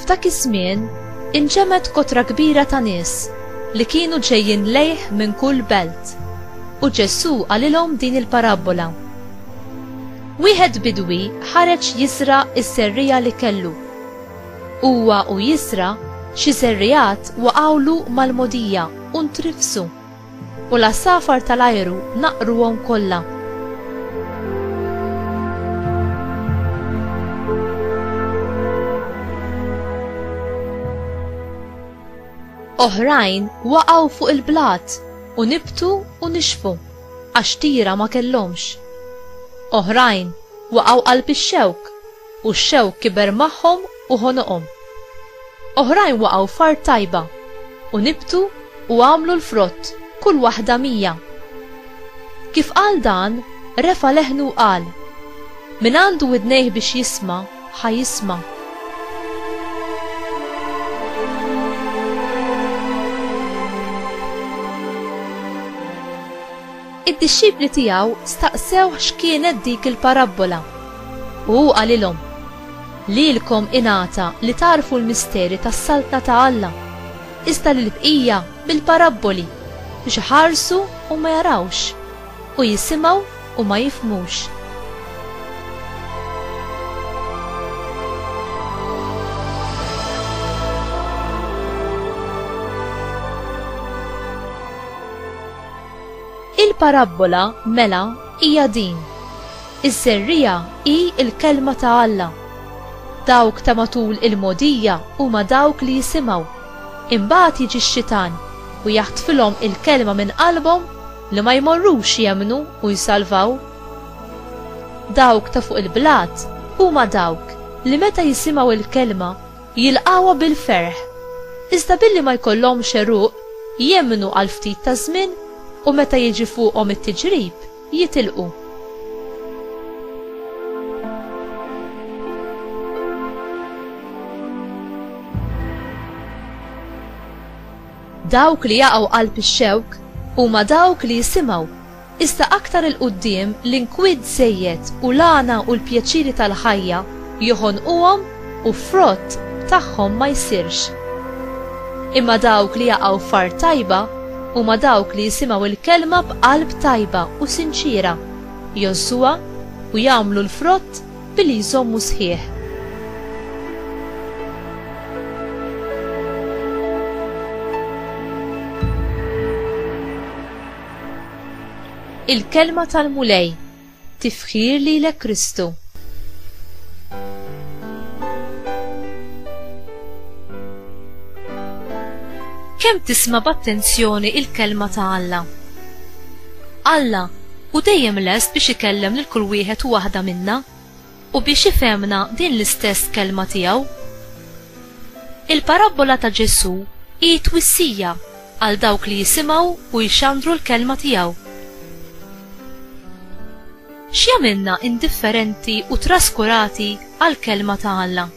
F'dak iż-żmien inġemgħet kotra kbira ta' nies li kienu ġejjin lejh minn kull belt, u Ġesù qalilhom din il-parabbola, Wieħed bidwi ħareġ jiżra' s-serriegħa li kellu. Huwa u jiżra', xi serriegħat waqgħulu mal-mogħdija u ntrifsu. U l-għasafar tal-ajru naqqruhom kollha. Oħrajn waqgħu fuq il-blat u nibtu u nixfu għax tira ma kellhomx. Oħrajn waqgħu qalb ix-xewk U x-xewk kiber magħhom u ħonoqhom. Oħrajn waqgħu f'art tajba, u nibtu u għamlu l-frott, kull waħda mija. Kif qal dan, refa' leħnu u qal, Min għandu widnejh biex jisma', ħa jisma'. Id-dixxipli tiegħu staqsewh x'kienet dik il-parabbola. U hu qalilhom, Lilkom ingħata li tagħrfu l-misteri tas-Saltna ta' Alla, iżda lill-bqija bil-parabboli, biex iħarsu u ma jarawx, u jisimgħu u ma jifhmux. Il-parabbola, mela, hija din, Iż-żerriegħa hi l-Kelma ta' Alla. Dawk ta' matul il-mogħdija huma dawk li jisimgħu. Imbagħad jiġi x-xitan u jaħtfilhom il-Kelma minn qalbhom li ma jmorrux jemmnu u jsalvaw. Dawk ta' fuq il-blat huma dawk li meta jisimgħu l-Kelma, jilqgħuha bil-ferħ, iżda billi ma jkollhomx għeruq, jemmnu għal ftit ta' żmien u meta jiġi fuqhom it-tiġrib, jitilqu. Dawk li jaqgħu qalb ix-xewk huma dawk li jisimgħu Iżda aktar 'il quddiem l-inkwiet żejjed u l-għana u l-pjaċiri tal-ħajja joħonquhom u frott tagħhom ma jsirx. Imma dawk li jaqgħu f'art tajba huma dawk li jisimgħu l-kelma b'qalb tajba u sinċiera, jgħożżuha u jagħmlu l-frott billi jżommu sħiħ. Il-Kelma tal-Mulej Tifħir lilek Kristu Kemm tisma' b'attenzjoni il-Kelma ta' Alla? Alla hu dejjem lest biex ikellem lil kull wieħed u waħda minna. u biex ifhemna din l-istess kelma tiegħu. Il-parabbola ta' Ġesù hi twissija għal dawk li jisimgħu u jxandru l-kelma tiegħu. X'jagħmilna indifferenti u traskurati għall-kelma ta' Alla?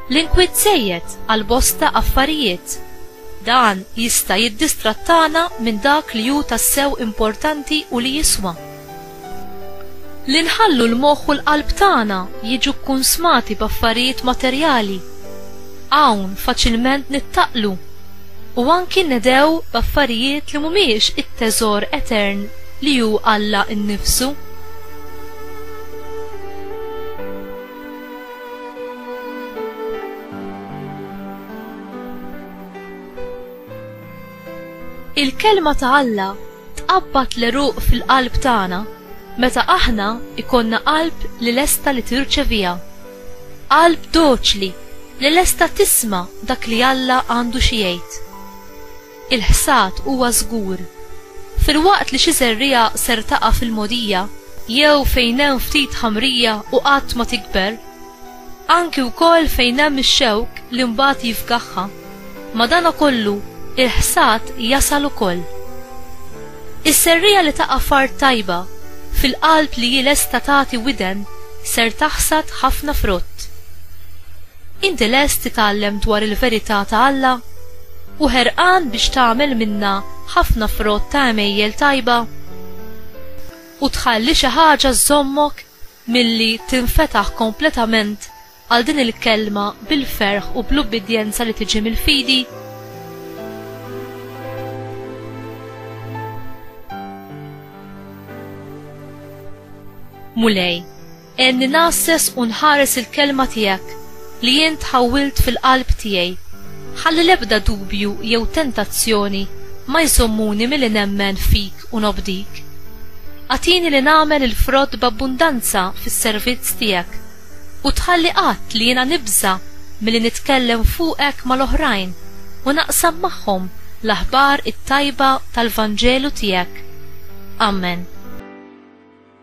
L-inkwiet żejjed għal bosta affarijiet. Dan jista' jiddistrattana minn dak li hu tassew importanti u li jiswa. Li nħallu l-moħħ u l-qalb tagħna jiġu kkunsmati b'affarijiet materjali, hawn faċilment nittaqlu u anki nnedgħu b'affarijiet li mhumiex it-teżor etern li hu Alla nnifsu. Il-Kelma ta' Alla tqabbad l-għeruq fil-qalb tagħna meta aħna jkollna qalb li lesta li tirċeviha, qalb doċli li lesta tisma' dak li Alla għandu xi jgħid. il-ħsad huwa żgur. Filwaqt li xi żerriegħa ser taqa' fil-mogħdija jew fejn hemm ftit ħamrija u qatt ma tikber, anki wkoll fejn hemm ix-xewk li mbagħad jifgaħha, madankollu il-ħsad jasal ukoll. Iż-żerriegħa li taqa' f'art tajba, fil-qalb li hi lesta tagħti widen, ser taħsad ħafna frott. Inti lest titgħallem dwar il-verità ta' Alla? U ħerqan biex tagħmel minnha ħafna frott ta' għemejjel tajba? U tħalli xi ħaġa żżommok milli tinfetaħ kompletament għal din il-kelma bil-ferħ u bl-ubbidjenza li tiġi mill-fidi? Mulej. Għenni ngħasses u nħares il-kelma tiegħek li int ħawwilt fil-qalb tiegħi. Ħalli l-ebda dubju jew tentazzjoni ma jżommuni milli nemmen fik u nobdik. Agħtini li nagħmel il-frott b'abbundanza fis-servizz tiegħek u tħalli qatt li jiena nibża' milli nitkellem fuqek mal-oħrajn u naqsam magħhom l-aħbar it-tajba tal-Vanġelu tiegħek. Amen.